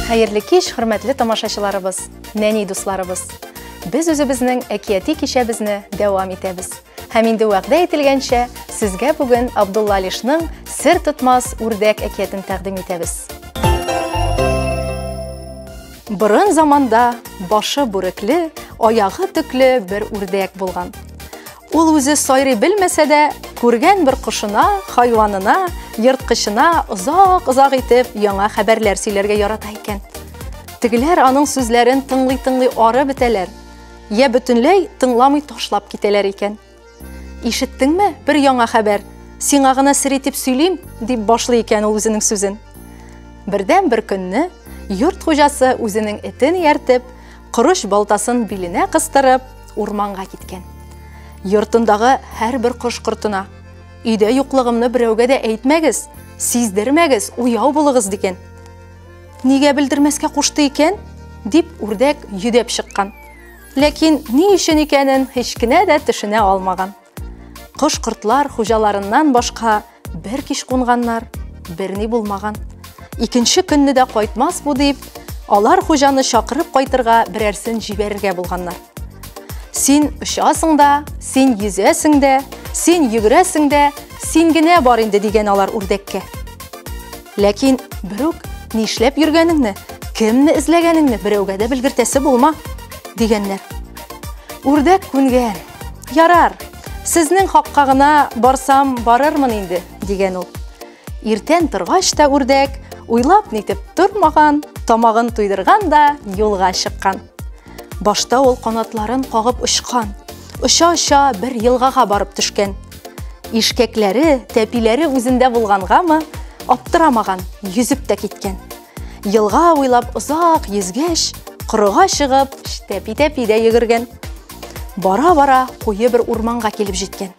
Хәерле кич, хөрмәтле тамашачыларыбыз, нәни дусларыбыз. Без үзебезнең әкияти кичәбезне дәвам итәбез. Һәм инде вәгъдә ителгәнчә, сезгә бүген Абдулла Алишның Сер тотмас үрдәк әкиятен тәкъдим итәбез. Борын заманда башы бүрекле, аягы төкле бер үрдәк булган. Ул үзе сайрый белмәсә дә, күргән бер кошына, хайванына, ерткычына озак-озак итеп яңа хәбәрләр сөйләргә ярата икән. Тегеләр аның сүзләрен тыңлый-тыңлый ары бетәләр. я бөтенләй тыңламый ташлап китәләр икән. Ишеттеңме, бер яңа хәбәр, сиңа гына сер итеп сөйлим, дип башлый икән ул үзенең сүзен. Бердән бер көнне йорт хуҗасы үзенең этен ияртеп, корыч балтасын биленә кыстырып, урманга киткән. Йортындагы һәрбер кош кортына, өйдә юклыгымны берәүгә дә әйтмәгез, сиздермәгез, уяу булыгыз дигән. Нигә белдермәскә кушты икән? дип үрдәк йөдәп чыккан. Ләкин ни өчен икәнен һич кенә дә төшенә алмаган. Кош-кортлар хуҗаларыннан башка бер кич кунганнар, берни булмаган. Икенче көнне дә кайтмас бу дип, алар хуҗаны чакырып кайтырга берәрсен җибәрергә булганнар. Син очасың да, син йөзәсең дә, син йөгерәсең дә, син генә бар инде дигән алар үрдәккә. Ләкин бер үк нишләп йөргәнеңне, кемне эзләгәнеңне берәүгә дә белгертәсе булма, дигәннәр. Үрдәк күнгән. Ярар, сезнең хакка гына барсам барырмын инде, дигән ул. Иртән торгач та үрдәк, уйлап нитеп тормаган, тамагын туйдырган да юлга чыккан. Башта ул канатларын кагып очкан. Оча-оча бер елгага барып төшкән. Ишкәкләре, тәпиләре үзендә булгангамы, аптырамаган, йөзеп тә киткән. Елга уйлап озак йөзгәч, корыга чыгып, тәпи-тәпи дә йөгергән. Бара-бара куе бер урманга килеп җиткән.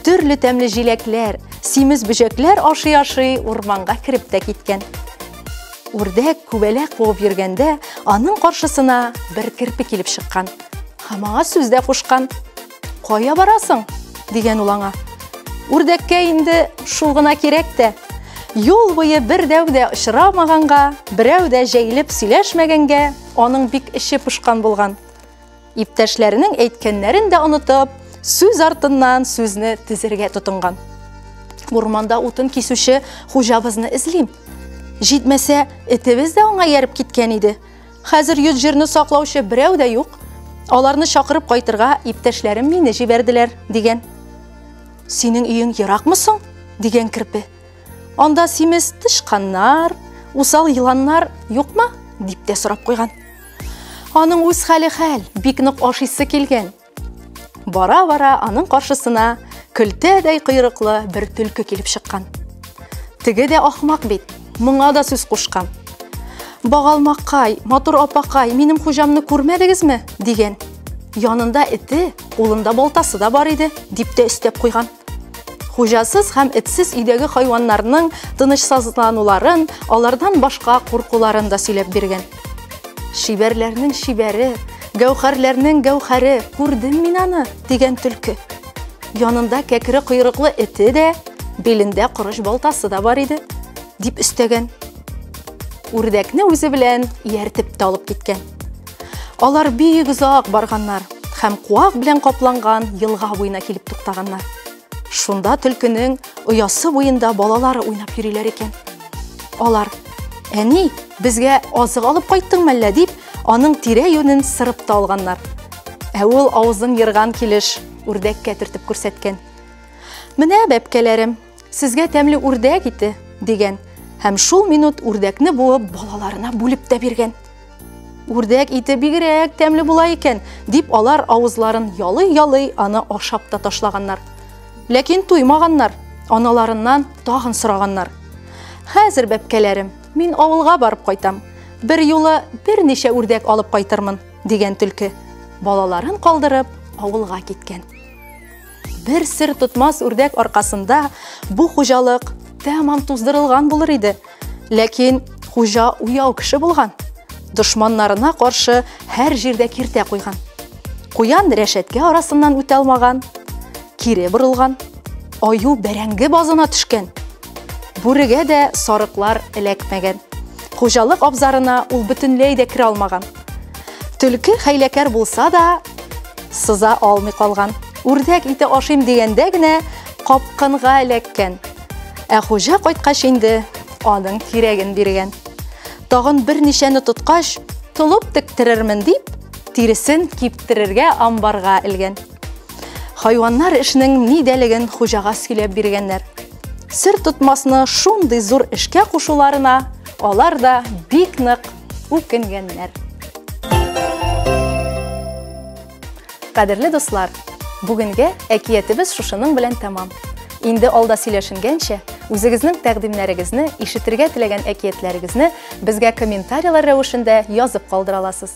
Төрле тәмле җиләкләр, симез бөҗәкләр ашый-ашый урманга кереп тә киткән. Үрдәк күбәлә куып йөргәндә, аның каршысына бер керпе килеп чыккан. Һәм аңа сүз дә кушкан. Кая барасың? дигән ул аңа. Үрдәккә инде шул гына кирәк тә. Юл буе бер дәү дә очрамаганга, берәү дә җәйлеп сөйләшмәгәнгә, аның бик эче пошкан булган. Иптәшләренең әйткәннәрен дә онытып, сүз артыннан сүзне тезергә тотынган. Урманда утын кисүче хуҗабызны эзлим. Җитмәсә, этебез дә аңа ярып киткән иде. Хәзер йөз җирне саклаучы берәү дә юк. Аларны чакырып кайтырга иптәшләрем мине җибәрделәр, дигән. Синең өең еракмы соң? дигән керпе. Анда симез тычканнар, усал еланнар юкмы? дип тә сорап куйган. Аның үз хәле хәл, бик нык ашыйсы килгән. Бара-бара аның каршысына көлтәдәй койрыклы бер төлке килеп чыккан. Теге дә ахмак бит, моңа да сүз кушкан. Багалмакай, матур апакай, минем хуҗамны күрмәдегезме? дигән. Янында эте, кулында балтасы да бар иде, дип тә өстәп куйган. Хуҗасыз һәм этсез өйдәге хайваннарның тынычсызлануларын, алардан башка куркуларын да сөйләп биргән. Шибәрләрнең шибәре, гәүһәрләрнең гәүһәре, күрдем мин аны, дигән төлке. Янында кәкре койрыклы эте дә, белендә корыч балтасы да бар иде, дип өстәгән. Үрдәкне үзе белән ияртеп тә алып киткән. Алар бик озак барганнар һәм куак белән капланган елга буена килеп туктаганнар. Шунда төлкенең оясы буенда балалары уйнап йөриләр икән. Алар: "Әни, безгә азык алып кайттың мәллә?" дип, аның тирә юнен сырып та алганнар. Ә ул авызын ерган килеш үрдәккә төртеп күрсәткән. Менә бәпкәләрем, Сезгә тәмле үрдәк ите, дигән. Һәм шул минут үрдәкне буып балаларына бүлеп тә биргән. Үрдәк ите бигрәк тәмле була икән, дип алар авызларын ялый-ялый аны ашап та ташлаганнар. Ләкин туймаганнар, аналарыннан тагын сораганнар. Хәзер, бәпкәләрем, мин авылга барып кайтам. Бер юлы берничә үрдәк алып кайтырмын, дигән төлке. Балаларын калдырып, авылга киткән. Бер сер тотмас үрдәк аркасында бу хуҗалык тәмам туздырылган булыр иде. Ләкин хуҗа уяу кеше булган. Дошманнарына каршы һәр җирдә киртә куйган. Куян рәшәткә арасыннан үтә алмаган, кире борылган, аю бәрәңге базына төшкән. Бүрегә дә сарыклар эләкмәгән. Хуҗалык абзарына ул бөтенләй дә керә алмаган. Төлке хәйләкәр булса да, сыза алмый калган. Үрдәк ите ашыйм дигәндә генә капкынга эләккән. Ә хуҗа кайткач инде аның тирәген биргән. Тагын берничәне тоткач, толып тектерермен дип, тиресен киптерергә амбарга элгән. Хайваннар эшнең нидәлеген хуҗага сөйләп биргәннәр. Сер тотмасны шундый зур эшкә кушуларына алар да бик нык үкенгәннәр. Кадерле дуслар, бүгенге әкиятебез шушының белән тәмам. Инде алда сөйләшенгәнчә, үзегезнең тәкъдимнәрегезне, ишетергә теләгән әкиятләрегезне безгә комментарийлар рәвешендә язып калдыра аласыз.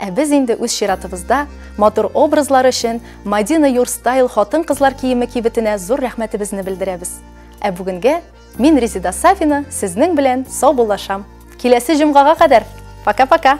Ә без инде үз чиратыбызда матур образлар өчен Мадина Юрстайл хатын-кызлар киеме кибетенә зур рәхмәтебезне белдерәбез. Ә бүгенгә мин Резида Сафина сезнең белән саубуллашам. Киләсе җомгага кадәр. Пока-пока.